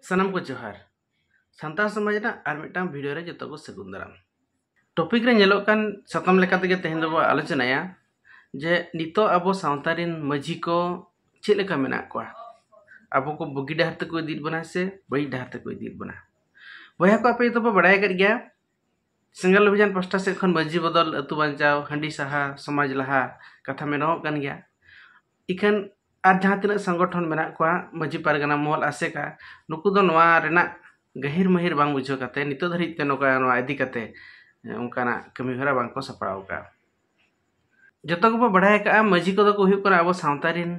ᱥᱟᱱᱟᱢ ᱠᱚ ᱡᱚᱦᱟᱨ ᱥᱟᱱᱛᱟᱲ ᱥᱚᱢᱟᱡᱽ ᱨᱮᱱᱟᱜ ᱟᱨ ᱢᱤᱫᱴᱟᱝ ᱵᱷᱤᱰᱤᱭᱳ ᱨᱮ ᱡᱚᱛᱚ ᱠᱚ ᱥᱟᱹᱜᱩᱱ ᱫᱟᱨᱟᱢ ᱴᱚᱯᱤᱠ ᱨᱮ ᱧᱮᱞᱚᱜ ᱠᱟᱱ ᱥᱟᱛᱟᱢ ᱞᱮᱠᱟ ᱛᱮᱜᱮ ᱛᱮᱦᱮᱧ ᱫᱚᱵᱚ ᱟᱞᱳᱪᱚᱱᱟᱭᱟ ᱡᱮ ᱱᱤᱛᱚᱜ ᱟᱵᱚ ᱥᱟᱶᱛᱟ ᱨᱮᱱ ᱢᱟᱹᱡᱷᱤ ᱠᱚ ᱪᱮᱫ ᱞᱮᱠᱟ ᱢᱮᱱᱟᱜ ᱠᱚᱣᱟ ᱟᱵᱚ ᱠᱚ ᱵᱩᱜᱤ ᱰᱟᱦᱟᱨ ᱛᱮᱠᱚ ᱤᱫᱤᱭᱮᱫ ᱵᱚᱱᱟ ᱥᱮ ᱵᱟᱹᱲᱤᱡ ᱰᱟᱦᱟᱨ ᱛᱮᱠᱚ ᱤᱫᱤᱭᱮᱫ ᱵᱚᱱᱟ ᱵᱚᱭᱦᱟ ᱠᱚ ᱟᱯᱮ ᱡᱚᱛᱚ ᱯᱮ ᱵᱟᱲᱟᱭ ᱟᱠᱟᱫ ᱜᱮᱭᱟ ᱥᱮᱸᱜᱮᱞ ᱚᱵᱷᱤᱡᱟᱱ ᱯᱟᱥᱴᱟ ᱥᱮᱫ ᱠᱷᱚᱱ ᱢᱟᱹᱡᱷᱤ ᱵᱚᱫᱚᱞ ᱟᱹᱛᱩ ᱵᱟᱧᱪᱟᱣ ᱦᱟᱺᱰᱤ ᱥᱟᱦᱟ ᱥᱚᱢᱟᱡᱽ ᱞᱟᱦᱟ ᱠᱟᱛᱷᱟ ᱢᱮᱱᱚᱜᱚᱜ ᱠᱟᱱ ᱜᱮᱭᱟ ᱤᱠᱷᱟᱹᱱ ᱟᱨ ᱡᱟᱦᱟᱸ ᱛᱤᱱᱟᱹᱜ ᱥᱚᱝᱜᱚᱴᱷᱚᱱ ᱢᱮᱱᱟᱜ ᱠᱚᱣᱟ ᱢᱟᱹᱡᱷᱤ ᱯᱟᱨᱜᱟᱱᱟ ᱢᱚᱦᱚᱞ ᱟᱥᱮᱠᱟ ᱱᱩᱠᱩ ᱫᱚ ᱱᱚᱣᱟ ᱨᱮᱱᱟᱜ ᱜᱟᱹᱦᱤᱨ ᱢᱟᱹᱦᱤᱨ ᱵᱟᱝ ᱵᱩᱡᱷᱟᱹᱣ ᱠᱟᱛᱮ ᱱᱤᱛᱚᱜ ᱫᱷᱟᱹᱨᱤᱡ ᱛᱮ ᱱᱚᱝᱠᱟ ᱱᱚᱣᱟ ᱤᱫᱤ ᱠᱟᱛᱮ ᱚᱱᱠᱟᱱᱟᱜ ᱠᱟᱹᱢᱤ ᱦᱚᱨᱟ ᱵᱟᱝ ᱠᱚ ᱥᱟᱯᱲᱟᱣ ᱠᱟᱜᱼᱟ ᱡᱚᱛᱚ ᱜᱮᱵᱚ ᱵᱟᱲᱟᱭ ᱠᱟᱜᱼᱟ ᱢᱟᱹᱡᱷᱤ ᱠᱚᱫᱚ ᱠᱚ ᱦᱩᱭᱩᱜ ᱠᱟᱱᱟ ᱟᱵᱚ ᱥᱟᱶᱛᱟ ᱨᱮᱱ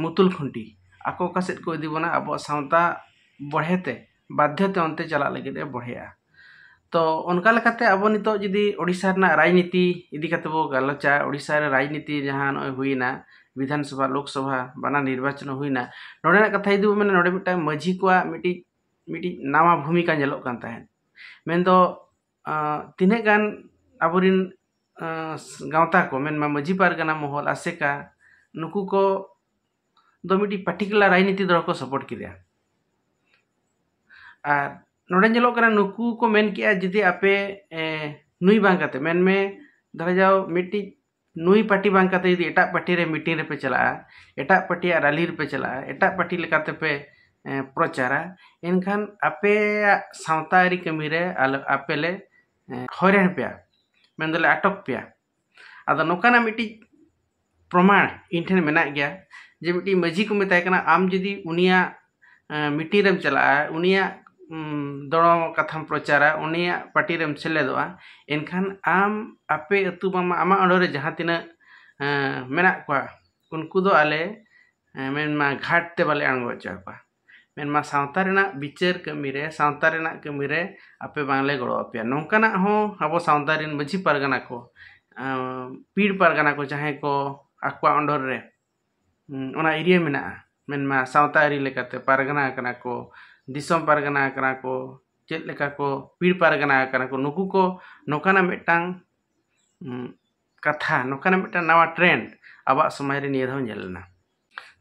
ᱢᱩᱛᱩᱞ ᱠᱷᱩᱱᱴᱤ ᱟᱠᱚ ᱚᱠᱟ ᱥᱮᱫ ᱠᱚ ᱤᱫᱤ ᱵᱚᱱᱟ ᱟᱵᱚᱣᱟᱜ ᱥᱟᱶᱛᱟ ᱵᱚᱲᱦᱮ ᱛᱮ ᱵᱟᱫᱽᱫᱷᱚ ᱛᱮ ᱚᱱᱛᱮ ᱪᱟᱞᱟᱜ ᱞᱟᱹᱜᱤᱫ ᱮ ᱵᱚᱲᱦᱮᱜᱼᱟ ᱛᱚ ᱚᱱᱠᱟ ᱞᱮᱠᱟᱛᱮ ᱟᱵᱚ ᱱᱤᱛᱚᱜ ᱡᱩᱫᱤ ᱳᱰᱤᱥᱟ ᱨᱮᱱᱟᱜ ᱨᱟᱡᱽᱱᱤᱛᱤ ᱤᱫᱤ ᱠᱟᱛᱮᱫ ᱵᱚᱱ ᱜᱟᱞᱚᱪᱟ ᱳᱰᱤᱥᱟ ᱨᱮ ᱨᱟᱡᱽᱱᱤᱛᱤ ᱡᱟᱦᱟᱸ ᱱᱚᱜᱼᱚᱭ ᱦᱩᱭᱱᱟ ᱵᱤᱫᱷᱟᱱ ᱥᱚᱵᱷᱟ ᱞᱳᱠ ᱥᱚᱵᱷᱟ ᱵᱟᱱᱟᱨ ᱱᱤᱨᱵᱟᱪᱚᱱ ᱦᱩᱭᱱᱟ ᱱᱚᱰᱮᱱᱟᱜ ᱠᱟᱛᱷᱟ ᱡᱩᱫᱤ ᱵᱚᱱ ᱢᱮᱱᱟ ᱱᱚᱰᱮ ᱢᱤᱫᱴᱟᱱ ᱢᱟᱹᱡᱷᱤ ᱠᱚᱣᱟᱜ ᱢᱤᱫᱴᱤᱡ ᱢᱤᱫᱴᱤᱡ ᱱᱟᱣᱟ ᱵᱷᱩᱢᱤᱠᱟ ᱧᱮᱞᱚᱜ ᱠᱟᱱ ᱛᱟᱦᱮᱸᱫ ᱢᱮᱱᱫᱚ ᱛᱤᱱᱟᱹᱜ ᱜᱟᱱ ᱟᱵᱚ ᱨᱮᱱ ᱜᱟᱶᱛᱟ ᱠᱚ ᱢᱮᱱ ᱢᱮ ᱢᱟᱹᱡᱷᱤ ᱯᱟᱨᱜᱟᱱᱟ ᱢᱚᱦᱚᱞ ᱟᱥᱮᱠᱟ ᱱᱩᱠᱩ ᱠᱚ ᱫᱚ ᱢᱤᱫᱴᱤᱡ ᱯᱟᱨᱴᱤᱠᱩᱞᱟᱨ ᱨᱟᱡᱽᱱᱤᱛᱤ ᱫᱚᱞ ᱠᱚ ᱥᱟᱯᱳᱨᱴ ᱠᱮᱫᱮᱭᱟ ᱟᱨ ᱱᱚᱰᱮ ᱧᱮᱞᱚᱜ ᱠᱟᱱᱟ ᱱᱩᱠᱩ ᱠᱚ ᱢᱮᱱ ᱠᱮᱫᱼᱟ ᱡᱩᱫᱤ ᱟᱯᱮ ᱱᱩᱭ ᱵᱟᱝ ᱠᱟᱛᱮᱫ ᱢᱮᱱ ᱢᱮ ᱫᱷᱚᱨᱚ ᱡᱟᱣ ᱢᱤᱫᱴᱤᱡ ᱱᱩᱭ ᱯᱟᱨᱴᱤ ᱵᱟᱝ ᱠᱟᱛᱮ ᱡᱩᱫᱤ ᱮᱴᱟᱜ ᱯᱟᱨᱴᱤ ᱨᱮ ᱢᱤᱴᱤᱝ ᱨᱮᱯᱮ ᱪᱟᱞᱟᱜᱼᱟ ᱮᱴᱟᱜ ᱯᱟᱨᱴᱤᱭᱟᱜ ᱨᱟᱞᱤ ᱨᱮᱯᱮ ᱪᱟᱞᱟᱜᱼᱟ ᱮᱴᱟᱜ ᱯᱟᱨᱴᱤ ᱞᱮᱠᱟᱛᱮ ᱯᱮ ᱯᱨᱚᱪᱟᱨᱟ ᱮᱱᱠᱷᱟᱱ ᱟᱯᱮᱭᱟᱜ ᱥᱟᱶᱛᱟ ᱟᱹᱨᱤ ᱠᱟᱹᱢᱤ ᱨᱮ ᱟᱞᱚ ᱟᱯᱮ ᱞᱮ ᱦᱚᱭᱨᱟᱱ ᱯᱮᱭᱟ ᱢᱮᱱ ᱫᱚᱞᱮ ᱟᱴᱚᱠ ᱯᱮᱭᱟ ᱟᱫᱚ ᱱᱚᱝᱠᱟᱱᱟᱜ ᱢᱤᱫᱴᱤᱡ ᱯᱨᱚᱢᱟᱬ ᱤᱧ ᱴᱷᱮᱱ ᱢᱮᱱᱟᱜ ᱜᱮᱭᱟ ᱡᱮ ᱢᱤᱫᱴᱤᱡ ᱢᱟᱹᱡᱷᱤ ᱠᱚ ᱢᱮᱛᱟᱭ ᱠᱟᱱᱟ ᱟᱢ ᱡᱩᱫᱤ ᱩᱱᱤᱭᱟᱜ ᱢᱤᱴᱤᱝ ᱨᱮᱢ ᱪᱟᱞᱟᱜᱼᱟ ᱩᱱᱤᱭᱟᱜ ᱫᱚᱲᱚᱢ ᱠᱟᱛᱷᱟᱢ ᱯᱨᱚᱪᱟᱨᱟ ᱩᱱᱤᱭᱟᱜ ᱯᱟᱴᱤ ᱨᱮᱢ ᱥᱮᱞᱮᱫᱚᱜᱼᱟ ᱮᱱᱠᱷᱟᱱ ᱟᱢ ᱟᱯᱮ ᱟᱹᱛᱩ ᱵᱟᱝ ᱢᱟ ᱟᱢᱟᱜ ᱟᱹᱲᱟᱹ ᱨᱮ ᱡᱟᱦᱟᱸ ᱛᱤᱱᱟᱹᱜ ᱢᱮᱱᱟᱜ ᱠᱚᱣᱟ ᱩᱱᱠᱩ ᱫᱚ ᱟᱞᱮ ᱢᱮᱱ ᱢᱟ ᱜᱷᱟᱴ ᱛᱮ ᱵᱟᱞᱮ ᱟᱬᱜᱚ ᱦᱚᱪᱚ ᱟᱠᱚᱣᱟ ᱢᱮᱱ ᱢᱟ ᱥᱟᱶᱛᱟ ᱨᱮᱱᱟᱜ ᱵᱤᱪᱟᱹᱨ ᱠᱟᱹᱢᱤ ᱨᱮ ᱥᱟᱶᱛᱟ ᱨᱮᱱᱟᱜ ᱠᱟᱹᱢᱤ ᱨᱮ ᱟᱯᱮ ᱵᱟᱝ ᱞᱮ ᱜᱚᱲᱚ ᱟᱯᱮᱭᱟ ᱱᱚᱝᱠᱟᱱᱟᱜ ᱦᱚᱸ ᱟᱵᱚ ᱥᱟᱶᱛᱟ ᱨᱮᱱ ᱢᱟᱹᱡᱷᱤ ᱯᱟᱨᱜᱟᱱᱟ ᱠᱚ ᱯᱤᱲ ᱯᱟᱨᱜᱟᱱᱟ ᱠᱚ ᱡᱟᱦᱟᱸᱭ ᱠᱚ ᱟᱠᱚᱣᱟᱜ ᱚᱰᱚᱨ ᱨᱮ ᱚᱱᱟ ᱮᱨᱤᱭᱟ ᱢᱮᱱᱟᱜᱼᱟ ᱢᱮᱱᱢᱟ ᱥᱟᱶᱛᱟ ᱟᱹᱨᱤ ᱞᱮᱠᱟᱛᱮ ᱯᱟᱨᱜᱟᱱᱟ ᱠᱟᱱᱟ ᱠᱚ ᱫᱤᱥᱚᱢ ᱯᱟᱨᱜᱟᱱᱟ ᱠᱟᱱᱟ ᱠᱚ ᱪᱮᱫ ᱞᱮᱠᱟ ᱠᱚ ᱯᱤᱲ ᱯᱟᱨᱜᱟᱱᱟ ᱠᱟᱱᱟ ᱠᱚ ᱱᱩᱠᱩ ᱠᱚ ᱱᱚᱝᱠᱟᱱᱟᱜ ᱢᱤᱫᱴᱟᱝ ᱠᱟᱛᱷᱟ ᱱᱚᱝᱠᱟᱱᱟᱜ ᱢᱤᱫᱴᱟᱝ ᱱᱟᱣᱟ ᱴᱨᱮᱱᱰ ᱟᱵᱚᱣᱟᱜ ᱥᱚᱢᱟᱡᱽ ᱨᱮ ᱱᱤᱭᱟᱹ ᱫᱷᱟᱣ ᱧᱮᱞ ᱞᱮᱱᱟ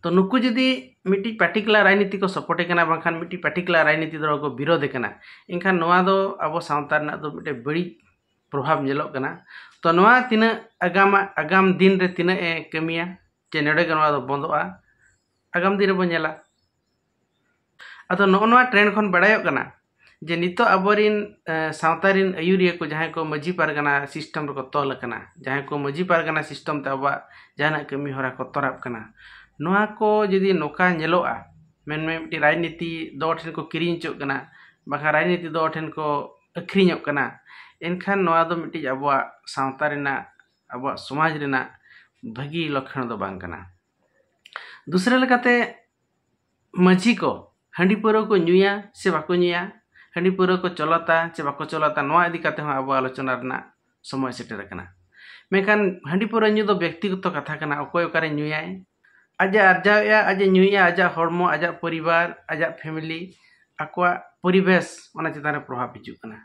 ᱛᱳ ᱱᱩᱠᱩ ᱡᱩᱫᱤ ᱢᱤᱫᱴᱤᱡ ᱯᱟᱨᱴᱤᱠᱩᱞᱟᱨ ᱨᱟᱡᱽᱱᱤᱛᱤ ᱠᱚ ᱥᱟᱯᱳᱨᱴᱮ ᱠᱟᱱᱟ ᱵᱟᱝᱠᱷᱟᱱ ᱢᱤᱫᱴᱤᱡ ᱯᱟᱨᱴᱤᱠᱩᱞᱟᱨ ᱨᱟᱡᱽᱱᱤᱛᱤ ᱫᱚᱞ ᱠᱚ ᱵᱤᱨᱳᱫᱷᱮ ᱠᱟᱱᱟ ᱮᱱᱠᱷᱟᱱ ᱱᱚᱣᱟ ᱫᱚ ᱟᱵᱚ ᱥᱟᱶᱛᱟ ᱨᱮᱱᱟᱜ ᱫᱚ ᱢᱤᱫᱴᱮᱡ ᱵᱟᱹᱲᱤᱡ ᱯᱨᱚᱵᱷᱟᱵᱽ ᱧᱮᱞᱚᱜ ᱠᱟᱱᱟ ᱛᱚ ᱱᱚᱣᱟ ᱛᱤᱱᱟᱹᱜ ᱟᱜᱟᱢᱟᱜ ᱟᱜᱟᱢ ᱫᱤᱱ ᱨᱮ ᱛᱤᱱᱟᱹᱜ ᱮ ᱠᱟᱹᱢᱤᱭᱟ ᱡᱮ ᱱᱚᱰᱮ ᱜᱮ ᱱᱚᱣᱟ ᱫᱚ ᱵᱚᱱᱫᱚᱜᱼᱟ ᱟᱜᱟᱢ ᱫᱤᱱ ᱨᱮᱵᱚᱱ ᱧᱮᱞᱟ ᱟᱫᱚ ᱱᱚᱜᱼᱚ ᱱᱚᱣᱟ ᱴᱨᱮᱱᱰ ᱠᱷᱚᱱ ᱵᱟᱲᱟᱭᱚᱜ ᱠᱟᱱᱟ ᱡᱮ ᱱᱤᱛᱚᱜ ᱟᱵᱚᱨᱤᱱ ᱥᱟᱶᱛᱟ ᱨᱤᱱ ᱟᱹᱭᱩᱨᱤᱭᱟᱹ ᱠᱚ ᱡᱟᱦᱟᱸᱭ ᱠᱚ ᱢᱟᱹᱡᱷᱤ ᱯᱟᱨᱜᱟᱱᱟ ᱥᱤᱥᱴᱮᱢ ᱨᱮᱠᱚ ᱛᱚᱞ ᱟᱠᱟᱱᱟ ᱡᱟᱦᱟᱸᱭ ᱠᱚ ᱢᱟᱹᱡᱷᱤ ᱯᱟᱨᱜᱟᱱᱟ ᱥᱤᱥᱴᱮᱢ ᱛᱮ ᱟᱵᱚᱣᱟᱜ ᱡᱟᱦᱟᱱᱟᱜ ᱠᱟᱹᱢᱤ ᱦᱚᱨᱟ ᱠᱚ ᱛᱚᱨᱟᱜ ᱠᱟᱱᱟ ᱱᱚᱣᱟ ᱠᱚ ᱡᱩᱫᱤ ᱱᱚᱝᱠᱟ ᱧᱮᱞᱚᱜᱼᱟ ᱢᱮᱱᱢᱮ ᱢᱤᱫᱴᱤᱡ ᱨᱟᱡᱽᱱᱤᱛᱤ ᱫᱚᱞ ᱴᱷᱮᱱ ᱠᱚ ᱠᱤᱨᱤᱧ ᱦᱚᱪᱚᱜ ᱠᱟᱱᱟ ᱵᱟᱠᱷᱟᱱ ᱨᱟᱡᱽᱱᱤᱛᱤ ᱫᱚᱞ ᱴᱷᱮᱱ ᱠᱚ ᱟᱹᱠᱷᱨᱤᱧᱚᱜ ᱠᱟᱱᱟ ᱮᱱᱠᱷᱟᱱ ᱱᱚᱣᱟ ᱫᱚ ᱢᱤᱫᱴᱤᱡ ᱟᱵᱚᱣᱟᱜ ᱥᱟᱶᱛᱟ ᱨᱮᱱᱟᱜ ᱟᱵᱚᱣᱟᱜ ᱥᱚᱢᱟᱡᱽ ᱨᱮᱱᱟᱜ ᱵᱷᱟᱹᱜᱤ ᱞᱚᱠᱠᱷᱚᱱ ᱫᱚ ᱵᱟᱝ ᱠᱟᱱᱟ ᱫᱩᱥᱨᱟᱹ ᱞᱮᱠᱟᱛᱮ ᱢᱟᱹᱡᱷᱤ ᱠᱚ ᱦᱟᱺᱰᱤ ᱯᱟᱹᱣᱨᱟᱹ ᱠᱚ ᱧᱩᱭᱟ ᱥᱮ ᱵᱟᱠᱚ ᱧᱩᱭᱟ ᱦᱟᱺᱰᱤ ᱯᱟᱹᱣᱨᱟᱹ ᱠᱚ ᱪᱚᱞᱚᱛᱟ ᱥᱮ ᱵᱟᱠᱚ ᱪᱚᱞᱚᱛᱟ ᱱᱚᱣᱟ ᱤᱫᱤ ᱠᱟᱛᱮᱫ ᱦᱚᱸ ᱟᱵᱚ ᱟᱞᱳᱪᱚᱱᱟ ᱨᱮᱱᱟᱜ ᱥᱚᱢᱚᱭ ᱥᱮᱴᱮᱨ ᱟᱠᱟᱱᱟ ᱢᱮᱱᱠᱷᱟᱱ ᱦᱟᱺᱰᱤ ᱯᱟᱹᱣᱨᱟᱹ ᱧᱩ ᱫᱚ ᱵᱮᱠᱛᱤᱜᱚᱛᱚ ᱠᱟᱛᱷᱟ ᱠᱟᱱᱟ ᱚᱠᱚᱭ ᱚᱠᱟᱨᱮ ᱧᱩᱭᱟᱭ ᱟᱡ ᱮ ᱟᱨᱡᱟᱣᱮᱜᱼᱟ ᱟᱡ ᱮ ᱧᱩᱭᱮᱜᱼᱟ ᱟᱡᱟᱜ ᱦᱚᱲᱢᱚ ᱟᱡᱟᱜ ᱯᱚᱨᱤᱵᱟᱨ ᱟᱡᱟᱜ ᱯᱷᱮᱢᱮᱞᱤ ᱟᱠᱚᱣᱟᱜ ᱯᱚᱨᱤᱵᱮᱥ ᱚᱱᱟ ᱪᱮᱛᱟᱱ ᱨᱮ ᱯᱨᱚᱵᱷᱟᱵᱽ ᱦᱤᱡᱩᱜ ᱠᱟᱱᱟ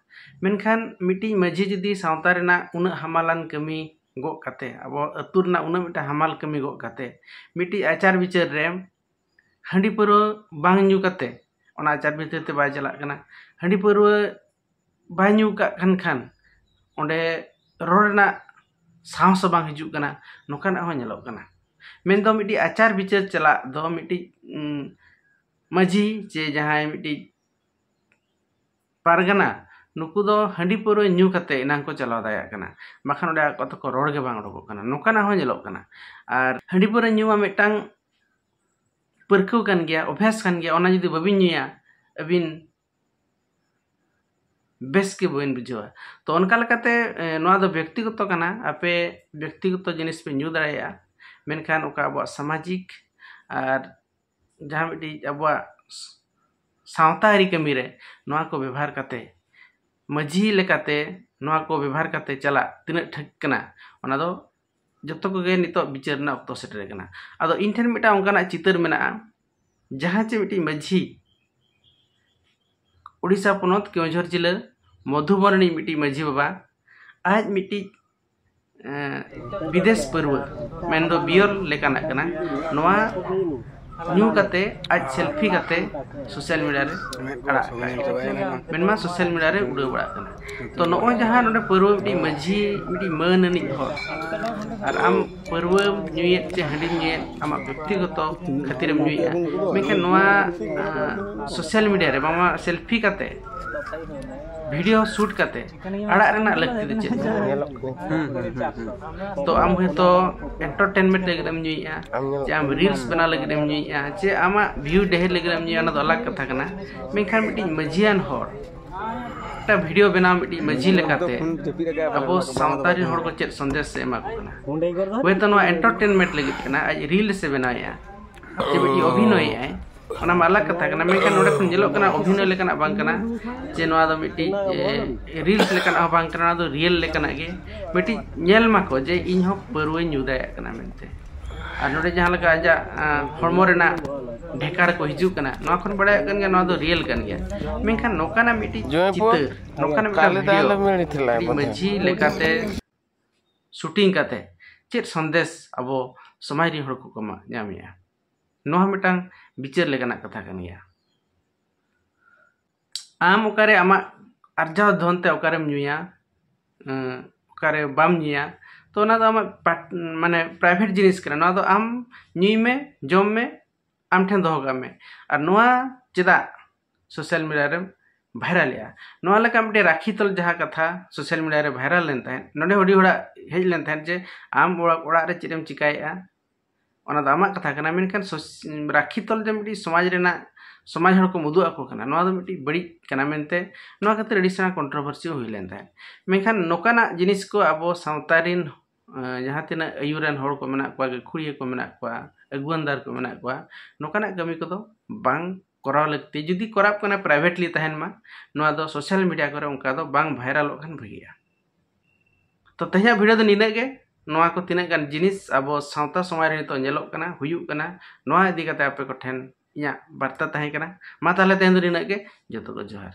ᱢᱮᱱᱠᱷᱟᱱ ᱢᱤᱫᱴᱤᱡ ᱢᱟᱺᱡᱷᱤ ᱡᱩᱫᱤ ᱥᱟᱶᱛᱟ ᱨᱮᱱᱟᱜ ᱩᱱᱟᱹᱜ ᱦᱟᱢᱟᱞᱟᱱ ᱠᱟᱹᱢᱤ ᱜᱚᱜ ᱠᱟᱛᱮ ᱟᱵᱚ ᱟᱹᱛᱩ ᱨᱮᱱᱟᱜ ᱩᱱᱟᱹᱜ ᱢᱤᱫᱴᱟᱝ ᱦᱟᱢᱟᱞ ᱠᱟᱹᱢᱤ ᱜᱚᱜ ᱠᱟᱛᱮ ᱢᱤᱫᱴᱤᱡ ᱟᱪᱟᱨ ᱵᱤᱪᱟᱹᱨ ᱨᱮ ᱦᱟᱺᱰᱤ ᱯᱟᱹᱣᱨᱟᱹ ᱵᱟᱝ ᱧᱩ ᱠᱟᱛᱮ ᱚᱱᱟ ᱟᱪᱟᱨ ᱵᱤᱪᱟᱹᱨ ᱛᱮ ᱵᱟᱭ ᱪᱟᱞᱟᱜ ᱠᱟᱱᱟ ᱦᱟᱺᱰᱤ ᱯᱟᱹᱣᱨᱟᱹ ᱵᱟᱭ ᱧᱩ ᱠᱟᱜ ᱠᱟᱱ ᱠᱷᱟᱱ ᱚᱸᱰᱮ ᱨᱚᱲ ᱨᱮᱱᱟᱜ ᱥᱟᱦᱚᱥ ᱦᱚᱸ ᱵᱟᱝ ᱦᱤᱡᱩᱜ ᱠᱟᱱᱟ ᱱᱚᱝᱠᱟᱱᱟᱜ ᱦᱚᱸ ᱧᱮᱞᱚᱜ ᱠᱟᱱᱟ ᱢᱮᱱ ᱫᱚ ᱢᱤᱫᱴᱤᱡ ᱟᱪᱟᱨ ᱵᱤᱪᱟᱹᱨ ᱪᱟᱞᱟᱜ ᱫᱚ ᱢᱤᱫᱴᱤᱡ ᱢᱟᱹᱡᱷᱤ ᱪᱮ ᱡᱟᱦᱟᱸᱭ ᱢᱤᱫᱴᱤᱡ ᱯᱟᱨᱜᱟᱱᱟ ᱱᱩᱠᱩ ᱫᱚ ᱦᱟᱺᱰᱤ ᱯᱟᱹᱣᱨᱟᱹ ᱧᱩ ᱠᱟᱛᱮ ᱮᱱᱟᱝ ᱠᱚ ᱪᱟᱞᱟᱣ ᱫᱟᱲᱮᱭᱟᱜ ᱠᱟᱱᱟ ᱵᱟᱠᱷᱟᱱ ᱚᱸᱰᱮ ᱟᱠᱚ ᱛᱮᱠᱚ ᱨᱚᱲ ᱜᱮ ᱵᱟᱝ ᱚᱰᱚᱠᱚᱜ ᱠᱟᱱᱟ ᱱᱚᱝᱠᱟᱱᱟᱜ ᱦᱚᱸ ᱧᱮᱞᱚᱜ ᱠᱟᱱᱟ ᱟᱨ ᱦᱟᱺᱰᱤ ᱯᱟᱹᱣᱨᱟᱹ ᱧᱩ ᱢᱟ ᱢᱤᱫᱴᱟᱝ ᱯᱟᱹᱨᱠᱟᱹᱣ ᱠᱟᱱ ᱜᱮᱭᱟ ᱚᱵᱷᱭᱟᱥ ᱠᱟᱱ ᱜᱮᱭᱟ ᱚᱱᱟ ᱡᱩᱫᱤ ᱵᱟᱹᱵᱤᱱ ᱧᱩᱭᱟ ᱟᱹᱵᱤᱱ ᱵᱮᱥ ᱜᱮ ᱵᱟᱹᱧ ᱵᱩᱡᱷᱟᱹᱣᱟ ᱛᱚ ᱚᱱᱠᱟ ᱞᱮᱠᱟᱛᱮ ᱱᱚᱣᱟ ᱫᱚ ᱵᱮᱠᱛᱤᱜᱚᱛᱚ ᱠᱟᱱᱟ ᱟᱯᱮ ᱵᱮᱠᱛᱤᱜᱚᱛᱚ ᱡᱤᱱᱤᱥ ᱯᱮ ᱧᱩ ᱫᱟᱲᱮᱭᱟᱜᱼᱟ ᱢᱮᱱᱠᱷᱟᱱ ᱚᱠᱟ ᱟᱵᱚᱣᱟᱜ ᱥᱟᱢᱟᱡᱤᱠ ᱟᱨ ᱡᱟᱦᱟᱸ ᱢᱤᱫᱴᱤᱡ ᱟᱵᱚᱣᱟᱜ ᱥᱟᱶᱛᱟ ᱟᱹᱨᱤ ᱠᱟᱹᱢᱤ ᱨᱮ ᱱᱚᱣᱟ ᱠᱚ ᱵᱮᱵᱷᱟᱨ ᱠᱟᱛᱮ ᱢᱟᱹᱡᱷᱤ ᱞᱮᱠᱟᱛᱮ ᱱᱚᱣᱟ ᱠᱚ ᱵᱮᱵᱷᱟᱨ ᱠᱟᱛᱮ ᱪᱟᱞᱟᱜ ᱛᱤᱱᱟᱹᱜ ᱴᱷᱤᱠ ᱠᱟᱱᱟ ᱚᱱᱟ ᱫᱚ ᱡᱚᱛᱚ ᱠᱚᱜᱮ ᱱᱤᱛᱚᱜ ᱵᱤᱪᱟᱹᱨ ᱨᱮᱱᱟᱜ ᱚᱠᱛᱚ ᱥᱮᱴᱮᱨ ᱟᱠᱟᱱᱟ ᱟᱫᱚ ᱤᱧ ᱴᱷᱮᱱ ᱢᱤᱫᱴᱟᱝ ᱚᱱᱠᱟᱱᱟᱜ ᱪᱤᱛᱟᱹᱨ ᱢᱮᱱᱟᱜᱼᱟ ᱡᱟᱦᱟᱸ ᱪᱮ ᱢᱤᱫᱴᱤᱡ ᱢᱟᱹᱡᱷᱤ ᱳᱰᱤᱥᱟ ᱯᱚᱱᱚᱛ ᱠᱮᱣᱡᱷᱚᱨ ᱡᱤᱞᱟᱹ ᱢᱚᱫᱷᱩᱵᱚᱱ ᱨᱤᱱᱤᱡ ᱢᱤᱫᱴᱤᱡ ᱢᱟᱹᱡᱷᱤ ᱵᱟᱵᱟ ᱟᱡ ᱢᱤᱫᱴᱤᱡ ᱵᱤᱫᱮᱥ ᱯᱟᱹᱨᱣᱟᱹ ᱢᱮᱱᱫᱚ ᱵᱤᱭᱚᱨ ᱞᱮᱠᱟᱱᱟᱜ ᱠᱟᱱᱟ ᱱᱚᱣᱟ ᱧᱩ ᱠᱟᱛᱮ ᱟᱡ ᱥᱮᱞᱯᱷᱤ ᱠᱟᱛᱮ ᱥᱳᱥᱟᱞ ᱢᱤᱰᱤᱭᱟ ᱨᱮ ᱟᱲᱟᱜ ᱠᱟᱜᱼᱟ ᱢᱮᱱᱢᱟ ᱥᱳᱥᱟᱞ ᱢᱤᱰᱤᱭᱟ ᱨᱮ ᱩᱰᱟᱹᱣ ᱵᱟᱲᱟᱜ ᱠᱟᱱᱟ ᱛᱚ ᱱᱚᱜᱼᱚᱭ ᱡᱟᱦᱟᱸ ᱱᱚᱰᱮ ᱯᱟᱹᱨᱣᱟᱹ ᱢᱤᱫᱴᱤᱡ ᱢᱟᱹᱡᱷᱤ ᱢᱤᱫᱴᱤᱡ ᱢᱟᱹᱱ ᱟᱹᱱᱤᱡ ᱦᱚᱲ ᱟᱨ ᱟᱢ ᱯᱟᱹᱨᱣᱟᱹᱢ ᱧᱩᱭᱮᱫ ᱪᱮ ᱦᱟᱺᱰᱤᱢ ᱧᱩᱭᱮᱫ ᱟᱢᱟᱜ ᱵᱮᱠᱛᱤᱜᱚᱛᱚ ᱠᱷᱟᱹᱛᱤᱨᱮᱢ ᱧᱩᱭᱮᱫᱼᱟ ᱢᱮᱱᱠᱷᱟᱱ ᱱᱚᱣᱟ ᱥᱳᱥᱟᱞ ᱢᱤᱰᱤᱭᱟ ᱨᱮ ᱵᱟᱝᱢᱟ ᱥᱮᱞᱯᱷᱤ ᱠᱟᱛᱮ ᱵᱷᱤᱰᱤᱭᱳ ᱥᱩᱴ ᱠᱟᱛᱮ ᱟᱲᱟᱜ ᱨᱮᱱᱟᱜ ᱞᱟᱹᱠᱛᱤ ᱫᱚ ᱪᱮᱫ ᱛᱚ ᱟᱢ ᱦᱚᱭᱛᱳ ᱮᱱᱴᱟᱨᱴᱮᱱᱢᱮᱱᱴ ᱞᱟᱹᱜᱤᱫ ᱮᱢ ᱧᱩᱭᱮᱫᱼᱟ ᱪᱮ ᱟᱢ ᱨᱤᱞᱥ ᱵᱮᱱᱟᱣ ᱞᱟᱹᱜᱤᱫ ᱮᱢ ᱧᱩᱭᱮᱫᱼᱟ ᱪᱮ ᱟᱢᱟᱜ ᱵᱷᱤᱭᱩ ᱰᱷᱮᱨ ᱞᱟᱹᱜᱤᱫ ᱮᱢ ᱧᱩᱭᱟ ᱚᱱᱟ ᱫᱚ ᱟᱞᱟᱜᱽ ᱠᱟᱛᱷᱟ ᱠᱟᱱᱟ ᱢᱮᱱᱠᱷᱟᱱ ᱢᱤᱫᱴᱤᱡ ᱢᱟᱹᱡᱷᱤᱭᱟᱱ ᱦᱚᱲ ᱢᱤᱫᱴᱟᱝ ᱵᱷᱤᱰᱤᱭᱳ ᱵᱮᱱᱟᱣ ᱢᱤᱫᱴᱤᱡ ᱢᱟᱹᱡᱷᱤ ᱞᱮᱠᱟᱛᱮ ᱟᱵᱚ ᱥᱟᱶᱛᱟ ᱨᱮᱱ ᱦᱚᱲ ᱠᱚ ᱪᱮᱫ ᱥᱚᱱᱫᱮᱥ ᱮ ᱮᱢᱟ ᱠᱚ ᱠᱟᱱᱟ ᱦᱚᱭᱛᱳ ᱱᱚᱣᱟ ᱮᱱᱴᱟᱨᱴᱮᱱᱢᱮᱱᱴ ᱞᱟᱹᱜᱤᱫ ᱠᱟᱱᱟ ᱟᱡ ᱨᱤᱞᱥ ᱮ ᱵᱮᱱᱟᱣᱮᱫᱼᱟ ᱪᱮ ᱢᱤᱫᱴᱤᱡ ᱚᱵᱷᱤᱱᱚᱭᱮᱫᱼᱟᱭ ᱚᱱᱟ ᱢᱟ ᱟᱞᱟᱜ ᱠᱟᱛᱷᱟ ᱠᱟᱱᱟ ᱢᱮᱱᱠᱷᱟᱱ ᱱᱚᱰᱮ ᱠᱷᱚᱱ ᱧᱮᱞᱚᱜ ᱠᱟᱱᱟ ᱚᱵᱷᱤᱱᱚᱭ ᱞᱮᱠᱟᱱᱟᱜ ᱵᱟᱝ ᱠᱟᱱᱟ ᱡᱮ ᱱᱚᱣᱟ ᱫᱚ ᱢᱤᱫᱴᱤᱡ ᱨᱤᱞᱥ ᱞᱮᱠᱟᱱᱟᱜ ᱦᱚᱸ ᱵᱟᱝ ᱠᱟᱱᱟ ᱱᱚᱣᱟ ᱫᱚ ᱨᱤᱭᱮᱞ ᱞᱮᱠᱟᱱᱟᱜ ᱜᱮ ᱢᱤᱫᱴᱤᱡ ᱧᱮᱞ ᱢᱟᱠᱚ ᱡᱮ ᱤᱧ ᱦᱚᱸ ᱯᱟᱹᱨᱣᱟᱹᱧ ᱧᱩ ᱫᱟᱲᱮᱭᱟᱜ ᱠᱟᱱᱟ ᱢᱮᱱᱛᱮ ᱟᱨ ᱱᱚᱰᱮ ᱡᱟᱦᱟᱸ ᱞᱮᱠᱟ ᱟᱡᱟᱜ ᱦᱚᱲᱢᱚ ᱨᱮᱱᱟᱜ ᱰᱷᱮᱠᱟᱨ ᱠᱚ ᱦᱤᱡᱩᱜ ᱠᱟᱱᱟ ᱱᱚᱣᱟ ᱠᱷᱚᱱ ᱵᱟᱲᱟᱭᱚᱜ ᱠᱟᱱ ᱜᱮᱭᱟ ᱱᱚᱣᱟ ᱫᱚ ᱨᱤᱭᱮᱞ ᱠᱟᱱ ᱜᱮᱭᱟ ᱢᱮᱱᱠᱷᱟᱱ ᱱᱚᱝᱠᱟᱱᱟᱜ ᱢᱤᱫᱴᱤᱡ ᱪᱤᱛᱟᱹᱨ ᱱᱚᱝᱠᱟᱱᱟᱜ ᱢᱤᱫᱴᱤᱡ ᱢᱟᱹᱡᱷᱤ ᱞᱮᱠᱟᱛᱮ ᱥᱩᱴᱤᱝ ᱠᱟᱛᱮ ᱪᱮᱫ ᱥᱚᱱᱫᱮᱥ ᱟᱵᱚ ᱥᱚᱢᱟᱡᱽ ᱨᱮᱱ ᱦᱚᱲ ᱠᱚᱠᱚ ᱧᱟᱢᱮᱜᱼᱟ ᱱᱚᱣᱟ ᱦᱚᱸ ᱢᱤᱫᱴᱟᱝ ᱵᱤᱪᱟᱹᱨ ᱞᱮᱠᱟᱱᱟᱜ ᱠᱟᱛᱷᱟ ᱠᱟᱱ ᱜᱮᱭᱟ ᱟᱢ ᱚᱠᱟᱨᱮ ᱟᱢᱟᱜ ᱟᱨᱡᱟᱣ ᱫᱷᱚᱱ ᱛᱮ ᱚᱠᱟᱨᱮᱢ ᱧᱩᱭᱟ ᱚᱠᱟᱨᱮ ᱵᱟᱢ ᱧᱩᱭᱟ ᱛᱚ ᱚᱱᱟ ᱫᱚ ᱟᱢᱟᱜ ᱢᱟᱱᱮ ᱯᱨᱟᱭᱵᱷᱮᱴ ᱡᱤᱱᱤᱥ ᱠᱟᱱᱟ ᱱᱚᱣᱟ ᱫᱚ ᱟᱢ ᱧᱩᱭ ᱢᱮ ᱡᱚᱢ ᱢᱮ ᱟᱢ ᱴᱷᱮᱱ ᱫᱚᱦᱚ ᱠᱟᱜ ᱢᱮ ᱟᱨ ᱱᱚᱣᱟ ᱪᱮᱫᱟᱜ ᱥᱳᱥᱟᱞ ᱢᱤᱰᱤᱭᱟ ᱨᱮᱢ ᱵᱷᱟᱭᱨᱟᱞᱮᱜᱼᱟ ᱱᱚᱣᱟ ᱞᱮᱠᱟ ᱢᱤᱫᱴᱮᱱ ᱨᱟᱠᱷᱤ ᱛᱚᱞ ᱡᱟᱦᱟᱸ ᱠᱟᱛᱷᱟ ᱥᱳᱥᱟᱞ ᱢᱤᱰᱤᱭᱟ ᱨᱮ ᱵᱷᱟᱭᱨᱟᱞ ᱞᱮᱱ ᱛᱟᱦᱮᱸᱫ ᱱᱚᱰᱮ ᱟᱹᱰᱤ ᱦᱚᱲᱟᱜ ᱦᱮᱡ ᱞᱮᱱ ᱛᱟᱦᱮᱸᱫ ᱡᱮ ᱟᱢ ᱚᱲᱟᱜ ᱨᱮ ᱪᱮᱫ ᱮᱢ ᱪᱤᱠᱟᱹᱭᱮᱜᱼᱟ ᱚᱱᱟ ᱫᱚ ᱟᱢᱟᱜ ᱠᱟᱛᱷᱟ ᱠᱟᱱᱟ ᱢᱮᱱᱠᱷᱟᱱ ᱨᱟᱹᱠᱷᱤ ᱛᱚᱞ ᱫᱚ ᱢᱤᱫᱴᱤᱡ ᱥᱚᱢᱟᱡᱽ ᱨᱮᱱᱟᱜ ᱥᱚᱢᱟᱡᱽ ᱦᱚᱲ ᱠᱚᱢ ᱩᱫᱩᱜ ᱟᱠᱚ ᱠᱟᱱᱟ ᱱᱚᱣᱟ ᱫᱚ ᱢᱤᱫᱴᱤᱡ ᱵᱟᱹᱲᱤᱡ ᱠᱟᱱᱟ ᱢᱮᱱᱛᱮ ᱱᱚᱣᱟ ᱠᱷᱟᱹᱛᱤᱨ ᱟᱹᱰᱤ ᱥᱮᱬᱟ ᱠᱚᱱᱴᱨᱳᱵᱷᱟᱨᱥᱤ ᱦᱚᱸ ᱦᱩᱭ ᱞᱮᱱ ᱛᱟᱦᱮᱸᱫ ᱢᱮᱱᱠᱷᱟᱱ ᱱᱚᱝᱠᱟᱱᱟᱜ ᱡᱤᱱᱤᱥ ᱠᱚ ᱟᱵᱚ ᱥᱟᱶᱛᱟ ᱨᱮᱱ ᱡᱟᱦᱟᱸ ᱛᱤᱱᱟᱹᱜ ᱟᱹᱭᱩᱨᱟᱱ ᱦᱚᱲ ᱠᱚ ᱢᱮᱱᱟᱜ ᱠᱚᱣᱟ ᱜᱟᱹᱠᱷᱩᱲᱤᱭᱟᱹ ᱠᱚ ᱢᱮᱱᱟᱜ ᱠᱚᱣᱟ ᱟᱹᱜᱩᱣᱟᱹᱱᱫᱟᱨ ᱠᱚ ᱢᱮᱱᱟᱜ ᱠᱚᱣᱟ ᱱᱚᱝᱠᱟᱱᱟᱜ ᱠᱟᱹᱢᱤ ᱠᱚᱫᱚ ᱵᱟᱝ ᱠᱚᱨᱟᱣ ᱞᱟᱹᱠᱛᱤ ᱡᱩᱫᱤ ᱠᱚᱨᱟᱜ ᱠᱟᱱᱟ ᱯᱨᱟᱭᱵᱷᱮᱴᱞᱤ ᱛᱟᱦᱮᱱ ᱢᱟ ᱱᱚᱣᱟ ᱫᱚ ᱥᱳᱥᱟᱞ ᱢᱤᱰᱤᱭᱟ ᱠᱚᱨᱮ ᱚᱱᱠᱟ ᱫᱚ ᱵᱟᱝ ᱵᱷᱟᱭᱨᱟᱞᱚᱜ ᱠᱷᱟᱱ ᱵᱷᱟᱹᱜᱤᱜᱼᱟ ᱛᱚ ᱛᱮᱦᱮᱧᱟᱜ ᱵᱷᱤᱰᱤᱭᱳ ᱫᱚ ᱱᱤᱱᱟᱹᱜ ᱜᱮ ᱱᱚᱣᱟ ᱠᱚ ᱛᱤᱱᱟᱹᱜ ᱜᱟᱱ ᱡᱤᱱᱤᱥ ᱟᱵᱚ ᱥᱟᱶᱛᱟ ᱥᱚᱢᱟᱡᱽ ᱨᱮ ᱱᱤᱛᱚᱜ ᱧᱮᱞᱚᱜ ᱠᱟᱱᱟ ᱦᱩᱭᱩᱜ ᱠᱟᱱᱟ ᱱᱚᱣᱟ ᱤᱫᱤ ᱠᱟᱛᱮ ᱟᱯᱮ ᱠᱚᱴᱷᱮᱱ ᱤᱧᱟᱹᱜ ᱵᱟᱨᱛᱟ ᱛᱟᱦᱮᱸ ᱠᱟᱱᱟ ᱢᱟ ᱛᱟᱦᱞᱮ ᱛᱮᱦᱮᱧ ᱫᱚ ᱱᱤᱱᱟᱹᱜ ᱜᱮ ᱡᱚᱛᱚ ᱠᱚ ᱡᱚᱦᱟᱨ